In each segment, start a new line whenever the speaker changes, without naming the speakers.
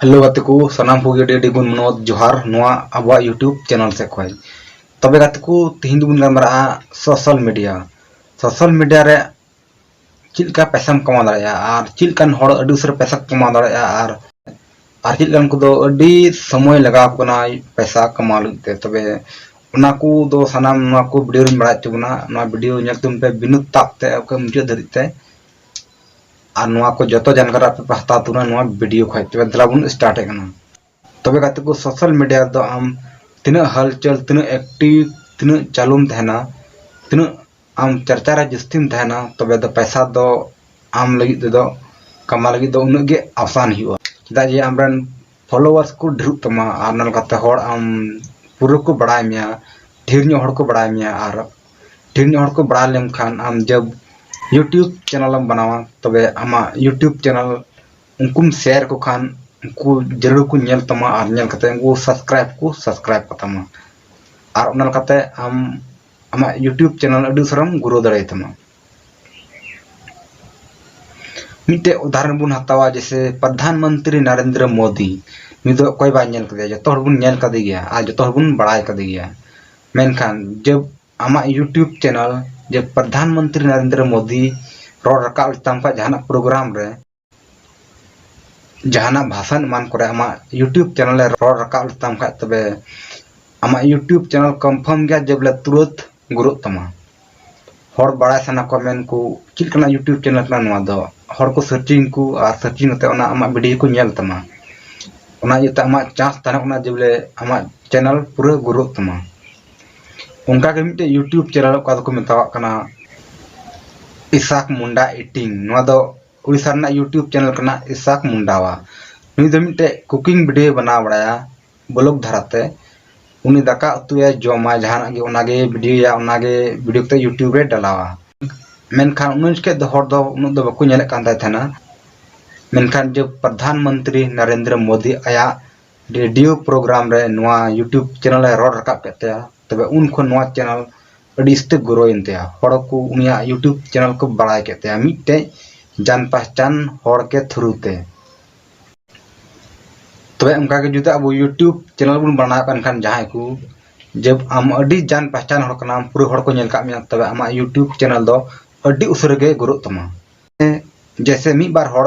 hello ᱜᱟᱛᱮ ᱠᱚ ᱥᱟᱱᱟᱢ ᱠᱚᱜᱮ ᱟᱹᱰᱤ ᱟᱹᱰᱤ ᱜᱩᱱ ᱢᱟᱱᱚᱛ ᱡᱚᱦᱟᱨ ᱱᱚᱣᱟ ᱟᱵᱚᱣᱟᱜ ᱭᱩᱴᱤᱭᱩᱵᱽ ᱪᱮᱱᱮᱞ ᱥᱮᱫ ᱠᱷᱚᱱ ᱛᱚᱵᱮ ᱜᱟᱛᱮ ᱠᱚ ᱛᱤᱦᱤᱧ ᱫᱚᱵᱚᱱ ᱜᱟᱞᱢᱟᱨᱟᱜᱼᱟ ᱥᱳᱥᱟᱞ ᱢᱤᱰᱤᱭᱟ ᱥᱳᱥᱟᱞ ᱢᱤᱰᱤᱭᱟ ᱨᱮ ᱪᱮᱫ ᱞᱮᱠᱟ ᱯᱮᱥᱟᱢ ᱠᱟᱢᱟᱣ ᱫᱟᱲᱮᱭᱟᱜᱼᱟ ᱟᱨ ᱪᱮᱫ ᱞᱮᱠᱟᱱ ᱦᱚᱲ ᱟᱹᱰᱤ ᱩᱥᱟᱹᱨᱟ ᱯᱮᱥᱟ ᱠᱟᱢᱟᱣ ᱫᱟᱲᱮᱭᱟᱜᱼᱟ ᱟᱨ ᱟᱨ ᱪᱮᱫ ᱞᱮᱠᱟᱱ ᱠᱚᱫᱚ ᱟᱹᱰᱤ ᱥᱚᱢᱚᱭ ᱞᱟᱜᱟᱣ ᱠᱟᱱᱟ ᱯᱮᱥᱟ ᱠᱟᱢᱟᱣ ᱞᱟᱹᱜᱤᱫ ᱛᱮ ᱛᱚᱵᱮ ᱚᱱᱟ ᱠᱚ ᱫᱚ ᱥᱟᱱᱟᱢ ᱱᱚᱣᱟ ᱠᱚ ᱵᱷᱤᱰᱤᱭᱳ ᱨᱤᱧ ᱵᱟᱲᱟᱭ ᱦᱚᱪᱚ ᱵᱚᱱᱟ ᱱᱚᱣᱟ ᱵᱷᱤᱰᱤᱭᱳ ᱧᱮᱞ ᱛᱟᱵᱚᱱ ᱯᱮ ᱵᱤᱱᱩ ᱛᱟᱯ ᱛᱮ ᱚᱠᱟ ᱢᱩᱪᱟᱹᱫ ᱫᱷᱟᱹᱨᱤᱡ ᱛᱮ ᱟᱨ ᱱᱚᱣᱟ ᱠᱚ ᱡᱚᱛᱚ ᱡᱟᱱᱠᱟᱨ ᱟᱯᱮ ᱯᱮ ᱦᱟᱛᱟᱣ ᱛᱟᱵᱚᱱᱟ ᱱᱚᱣᱟ ᱵᱷᱤᱰᱤᱭᱳ ᱠᱷᱚᱡ ᱛᱚᱵᱮ ᱫᱮᱞᱟ ᱵᱚᱱ ᱥᱴᱟᱨᱴ ᱮᱫ ᱠᱟᱱᱟ ᱛᱚᱵᱮ ᱜᱟᱛᱮ ᱠᱚ ᱥᱳᱥᱟᱞ ᱢᱤᱰᱤᱭᱟ ᱨᱮᱫᱚ ᱟᱢ ᱛᱤᱱᱟᱹᱜ ᱦᱟᱞᱪᱟᱞ ᱛᱤᱱᱟᱹᱜ ᱮᱠᱴᱤᱵᱷ ᱛᱤᱱᱟᱹᱜ ᱪᱟᱹᱞᱩᱢ ᱛᱟᱦᱮᱱᱟ ᱛᱤᱱᱟᱹᱜ ᱟᱢ ᱪᱟᱨᱪᱟ ᱨᱮ ᱡᱟᱹᱥᱛᱤᱢ ᱛᱟᱦᱮᱱᱟ ᱛᱚᱵᱮ ᱫᱚ ᱯᱟᱭᱥᱟ ᱫᱚ ᱟᱢ ᱞᱟᱹᱜᱤᱫ ᱛᱮᱫᱚ ᱠᱟᱢᱟᱣ ᱞᱟᱹᱜᱤᱫ ᱫᱚ ᱩᱱᱟᱹᱜ ᱜᱮ ᱟᱥᱟᱱ ᱦᱩᱭᱩᱜᱼᱟ ᱪᱮᱫᱟᱜ ᱡᱮ ᱟᱢ ᱨᱮᱱ ᱯᱷᱚᱞᱳᱣᱟᱨᱥ ᱠᱚ ᱰᱷᱮᱨᱚᱜ ᱛᱟᱢᱟ ᱟᱨ ᱚᱱᱟ ᱞᱮᱠᱟᱛᱮ ᱦᱚᱲ ᱟᱢ ᱯᱩᱨᱟᱹ ᱠᱚ ᱵᱟᱲᱟᱭ ᱢᱮᱭᱟ ᱰᱷᱮᱨ ᱧᱚᱜ ᱦᱚᱲ ᱠᱚ ᱵᱟᱲᱟᱭ ᱢᱮᱭᱟ ᱟᱨ ᱰᱷᱮᱨ ᱧᱚᱜ ᱦᱚᱲ ᱠᱚ ᱵᱟᱲᱟᱭ ᱞᱮᱢᱠᱷᱟᱱ ᱟᱢ ᱡᱟᱵ ᱤᱭᱩᱴᱩᱵᱽ ᱪᱮᱱᱮᱞᱮᱢ ᱵᱮᱱᱟᱣᱟ ᱛᱚᱵᱮ ᱟᱢᱟᱜ ᱤᱭᱩᱴᱩᱵᱽ ᱪᱮᱱᱮᱞ ᱩᱱᱠᱩᱢ ᱥᱮᱭᱟᱨ ᱠᱚ ᱠᱷᱟᱱ ᱩᱱᱠᱩ ᱡᱟᱹᱨᱩᱲ ᱠᱚ ᱧᱮᱞ ᱛᱟᱢᱟ ᱟᱨ ᱧᱮᱞ ᱠᱟᱛᱮ ᱩᱱᱠᱩ ᱥᱟᱵᱥᱠᱨᱟᱭᱤᱵ ᱠᱚ ᱥᱟᱵᱥᱠᱨᱟᱭᱤᱵ ᱠᱟᱛᱟᱢᱟ ᱟᱨ ᱚᱱᱟ ᱞᱮᱠᱟᱛᱮ ᱟᱢ ᱟᱢᱟᱜ ᱤᱭᱩᱴᱤᱭᱩᱵ ᱪᱮᱱᱮᱞ ᱟᱹᱰᱤ ᱩᱥᱟᱹᱨᱟᱢ ᱜᱨᱳ ᱫᱟᱲᱮᱭ ᱛᱟᱢᱟ ᱢᱤᱫᱴᱮᱡ ᱩᱫᱟᱦᱚᱨᱚᱱ ᱵᱚᱱ ᱦᱟᱛᱟᱣᱟ ᱡᱮᱥᱮ ᱯᱨᱚᱫᱷᱟᱱ ᱢᱚᱱᱛᱨᱤ ᱱᱚᱨᱮᱱᱫᱨᱚ ᱢᱳᱫᱤ ᱱᱩᱭ ᱫᱚ ᱚᱠᱚᱭ ᱵᱟᱭ ᱧᱮᱞ ᱠᱟᱫᱮᱭᱟ ᱡᱚᱛᱚ ᱦᱚᱲ ᱵᱚᱱ ᱧᱮᱞ ᱠᱟᱫᱮ ᱜᱮᱭᱟ ᱟᱨ ᱡᱚᱛᱚ ᱦᱚᱲ ᱵᱚᱱ ᱵᱟᱲᱟᱭ ᱠᱟᱫᱮ ᱜᱮᱭᱟ ᱢᱮᱱᱠᱷᱟᱱ ᱡᱚᱵ ᱟᱢᱟᱜ ᱤᱭᱩᱴᱤᱭᱩᱵ ᱪᱮᱱᱮᱞ ᱡᱮ ᱯᱨᱚᱫᱷᱟᱱ ᱢᱚᱱᱛᱨᱤ ᱱᱚᱨᱮᱱᱫᱨᱚ ᱢᱳᱫᱤ ᱨᱚᱲ ᱨᱟᱠᱟᱵ ᱞᱮᱛᱟᱢ ᱠᱷᱟᱱ ᱡᱟᱦᱟᱱᱟᱜ ᱯᱨᱳᱜᱨᱟᱢ ᱨᱮ ᱡᱟᱦᱟᱱᱟᱜ ᱵᱷᱟᱥᱟᱱ ᱮᱢᱟᱱ ᱠᱚᱨᱮ ᱟᱢᱟᱜ ᱤᱭᱩᱴᱤᱭᱩᱵᱽ ᱪᱮᱱᱮᱞ ᱮ ᱨᱚᱲ ᱨᱟᱠᱟᱵ ᱞᱮᱛᱟᱢ ᱠᱷᱟᱡ ᱛᱚᱵᱮ ᱟᱢᱟᱜ ᱤᱭᱩᱴᱤᱭᱩᱵᱽ ᱪᱮᱱᱮᱞ ᱠᱚᱱᱯᱷᱟᱨᱢ ᱜᱮᱭᱟ ᱡᱮ ᱵᱚᱞᱮ ᱛᱩᱨᱟᱹᱛ ᱜᱩᱨᱩᱜ ᱛᱟᱢᱟ ᱦᱚᱲ ᱵᱟᱲᱟᱭ ᱥᱟᱱᱟ ᱠᱚᱣᱟ ᱢᱮᱱ ᱠᱚ ᱪᱮᱫ ᱞᱮᱠᱟᱱᱟᱜ ᱤᱭᱩᱴᱤᱭᱩᱵᱽ ᱪᱮᱱᱮᱞ ᱠᱟᱱᱟ ᱱᱚᱣᱟ ᱫᱚ ᱦᱚᱲ ᱠᱚ ᱥᱟᱨᱪᱤᱝ ᱠᱚ ᱟᱨ ᱥᱟᱨᱪᱤᱝ ᱠᱟᱛᱮ ᱚᱱᱟ ᱟᱢᱟᱜ ᱵᱷᱤᱰᱤᱭᱳ ᱠᱚ ᱧᱮᱞ ᱛᱟᱢᱟ ᱚᱱᱟ ᱤᱭᱟᱹᱛᱮ ᱟᱢᱟᱜ ᱪᱟᱱᱥ ᱛᱟᱦᱮᱱ ᱠᱟᱱᱟ ᱡᱮ ᱵᱚᱞᱮ ᱟᱢᱟᱜ ᱪᱮᱱᱮᱞ ᱯᱩᱨᱟᱹ ᱜᱩᱨᱩᱜ ᱛᱟᱢᱟ ᱚᱱᱠᱟᱜᱮ ᱢᱤᱫᱴᱮᱡ ᱤᱭᱩᱴᱤᱭᱩᱵᱽ ᱪᱮᱱᱮᱞ ᱚᱠᱟ ᱫᱚᱠᱚ ᱢᱮᱛᱟᱣᱟᱜ ᱠᱟᱱᱟ ᱤᱥᱟᱠ ᱢᱩᱱᱰᱟ ᱤᱴᱤᱝ ᱱᱚᱣᱟ ᱫᱚ ᱩᱲᱤᱥᱥᱟ ᱨᱮᱱᱟᱜ ᱤᱭᱩᱴᱤᱭᱩᱵᱽ ᱪᱮᱱᱮᱞ ᱠᱟᱱᱟ ᱤᱥᱟᱠ ᱢᱩᱱᱰᱟᱣᱟ ᱱᱩᱭ ᱫᱚ ᱢᱤᱫᱴᱮᱡ ᱠᱩᱠᱤᱝ ᱵᱷᱤᱰᱤᱭᱳᱭ ᱵᱮᱱᱟᱣ ᱵᱟᱲᱟᱭᱟ ᱵᱞᱚᱜ ᱫᱷᱟᱨᱟᱛᱮ ᱩᱱᱤ ᱫᱟᱠᱟ ᱩᱛᱩᱭᱟ ᱡᱚᱢᱟ ᱡᱟᱦᱟᱱᱟᱜ ᱜᱮ ᱚᱱᱟᱜᱮ ᱵᱷᱤᱰᱤᱭᱳᱭᱟ ᱚᱱᱟᱜᱮ ᱵᱷᱤᱰᱤᱭᱳ ᱠᱟᱛᱮ ᱤᱭᱩᱴᱤᱭᱩᱵᱽ ᱨᱮ ᱰᱟᱞᱟᱣᱟ ᱢᱮᱱᱠᱷᱟᱱ ᱩᱱ ᱡᱚᱠᱷᱮᱡ ᱫᱚ ᱦᱚᱲ ᱫᱚ ᱩᱱᱟᱹᱜ ᱫᱚ ᱵᱟᱠᱚ ᱧᱮᱞᱮᱫ ᱠᱟᱱ ᱛᱟᱦᱮᱱᱟ ᱢᱮᱱᱠᱷᱟᱱ ᱡᱮ ᱯᱨᱚᱫᱷᱟᱱ ᱢᱚᱱᱛᱨᱤ ᱱᱚᱨᱮᱱᱫᱨᱚ ᱢᱳᱫᱤ ᱟᱭᱟᱜ ᱨᱮᱰᱤᱭᱳ ᱯᱨᱳᱜᱨᱟᱢ ᱨᱮ ᱱᱚᱣᱟ ᱤᱭᱩᱴᱩᱵᱽ ᱪᱮᱱᱮᱞ ᱮ ᱨᱚᱲ ᱨᱟᱠᱟᱵ ᱠᱮᱫ ᱛᱟᱭᱟ ᱛᱚᱵᱮ ᱩᱱ ᱠᱷᱚᱱ ᱱᱚᱣᱟ ᱪᱮᱱᱮᱞ ᱟᱹᱰᱤ ᱤᱥᱛᱟᱹ ᱜᱨᱳᱭᱮᱱ ᱛᱟᱭᱟ ᱦᱚᱲ ᱠᱚ ᱩᱱᱤᱭᱟᱜ ᱤᱭᱩᱴᱩᱵᱽ ᱪᱮᱱᱮᱞ ᱠᱚ ᱵᱟᱲᱟᱭ ᱠᱮᱫ ᱛᱟᱭᱟ ᱢᱤᱫᱴᱮᱡ ᱡᱟᱱ ᱯᱟᱦᱪᱟᱱ ᱦᱚᱲ ᱠᱮ ᱛᱷᱨᱩ ᱛᱮ ᱛᱚᱵᱮ ᱚᱱᱠᱟ ᱜᱮ ᱡᱩᱫᱤ ᱟᱵᱚ ᱤᱭᱩᱴᱩᱵᱽ ᱪᱮᱱᱮᱞ ᱵᱚᱱ ᱵᱟᱲᱟᱣ ᱠᱟᱱ ᱠᱷᱟᱱ ᱡᱟᱦᱟᱸᱭ ᱠᱚ ᱡᱮ ᱟᱢ ᱟᱹᱰᱤ ᱡᱟᱱ ᱯᱟᱦᱪᱟᱱ ᱦᱚᱲ ᱠᱟᱱᱟᱢ ᱯᱩᱨᱟᱹ ᱦᱚᱲ ᱠᱚ ᱧᱮᱞ ᱠᱟᱜ ᱢᱮᱭᱟ ᱛᱚᱵᱮ ᱟᱢᱟᱜ ᱤᱭᱩᱴᱩᱵᱽ ᱪᱮᱱᱮᱞ ᱫᱚ ᱟᱹᱰᱤ ᱩᱥᱟᱹᱨᱟ ᱜᱮ ᱜᱨᱳᱜ ᱛᱟᱢᱟ ᱡᱮᱥᱮ ᱢᱤᱫ ᱵᱟᱨ ᱦᱚᱲ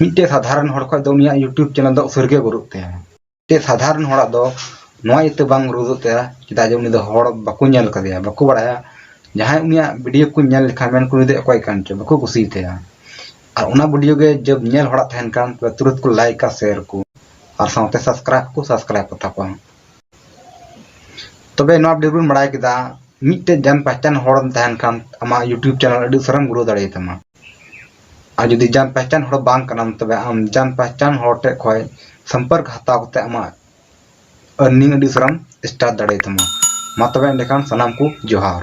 ᱢᱤᱫᱴᱮᱡ ᱥᱟᱫᱷᱟᱨᱚᱱ ᱦᱚᱲ ᱠᱷᱚᱡ ᱫᱚ ᱩᱱᱤᱭᱟᱜ ᱤᱭᱩᱴᱩᱵᱽ ᱪᱮᱱᱮᱞ ᱫᱚ ᱩᱥᱟᱹᱨ ᱜᱮ ᱜᱨᱳᱜ ᱛᱟᱭᱟ ᱢᱤᱫᱴᱮᱡ ᱥᱟᱫᱷᱟᱨᱚᱱ ᱦᱚᱲᱟᱜ ᱫᱚ ᱱᱚᱣᱟ ᱤᱭᱟᱹᱛᱮ ᱵᱟᱝ ᱜᱨᱳᱜ ᱛᱟᱭᱟ ᱪᱮᱫᱟᱜ ᱡᱮ ᱩᱱᱤ ᱫᱚ ᱦᱚᱲ ᱵᱟᱠᱚ ᱧᱮᱞ ᱠᱟᱫᱮᱭᱟ ᱵᱟᱠᱚ ᱵᱟᱲᱟᱭᱟ ᱡᱟᱦᱟᱸᱭ ᱩᱱᱤᱭᱟᱜ ᱵᱷᱤᱰᱤᱭᱳ ᱠᱚ ᱧᱮᱞ ᱞᱮᱠᱷᱟᱱ ᱢᱮᱱ ᱠᱚ ᱩᱱᱤ ᱫᱚ ᱚᱠᱚᱭ ᱠᱟᱱ ᱪᱚ ᱵᱟᱠᱚ ᱠᱩᱥᱤᱭᱟᱛᱟᱭᱟ ᱟᱨ ᱚᱱᱟ ᱵᱷᱤᱰᱤᱭᱳ ᱜᱮ ᱡᱚᱵ ᱧᱮᱞ ᱦᱚᱲᱟᱜ ᱛᱟᱦᱮᱱ ᱠᱟᱱ ᱛᱚᱵᱮ ᱛᱩᱨᱟᱹᱛ ᱠᱚ ᱞᱟᱭᱤᱠᱟ ᱥᱮᱭᱟᱨ ᱠᱚ ᱟᱨ ᱥᱟᱶᱛᱮ ᱥᱟᱵᱥᱠᱨᱟᱭᱤᱵ ᱠᱚ ᱥᱟᱵᱥᱠᱨᱟᱭᱤᱵ ᱠᱚᱛᱟ ᱠᱚᱣᱟ ᱛᱚᱵᱮ ᱱᱚᱣᱟ ᱵᱷᱤᱰᱤᱭᱳ ᱵᱚᱱ ᱵᱟᱲᱟᱭ ᱠᱮᱫᱟ ᱢᱤᱫᱴᱮᱡ ᱡᱟᱱ ᱯᱟᱦᱪᱟᱱ ᱦᱚᱲ ᱛᱟᱦᱮᱱ ᱠᱷᱟᱱ ᱟᱢᱟᱜ ᱤᱭᱩᱴᱩᱵᱽ ᱪᱮᱱᱮᱞ ᱟᱹᱰᱤ ᱩᱥᱟᱹᱨᱟᱢ ᱜᱨᱳ ᱫᱟᱲᱮᱭᱟᱛᱟᱢᱟ ᱟᱨ ᱡᱩᱫᱤ ᱡᱟᱱ ᱯᱟᱦᱪᱟᱱ ᱦᱚᱲ ᱵᱟᱝ ᱠᱟᱱᱟᱢ ᱛᱚᱵᱮ ᱟᱢ ᱡᱟᱱ ᱯᱟᱦᱪᱟᱱ ᱦᱚᱲ ᱴᱷᱮᱡ ᱠᱷᱚᱡ ᱥᱚᱢᱯᱚᱨᱠ ᱦᱟᱛᱟᱣ ᱠᱟᱛᱮ ᱟᱢᱟᱜ ᱟᱨᱱᱤᱝ ᱟᱹᱰᱤ ᱩᱥᱟᱹᱨᱟᱢ ᱥᱴᱟᱨᱴ ᱫᱟᱲᱮᱭᱟᱛᱟᱢᱟ ᱢᱟ ᱛᱚᱵᱮ ᱮᱸᱰᱮᱠᱷᱟᱱ ᱥᱟᱱᱟᱢ ᱠᱚ ᱡᱚᱦᱟᱨ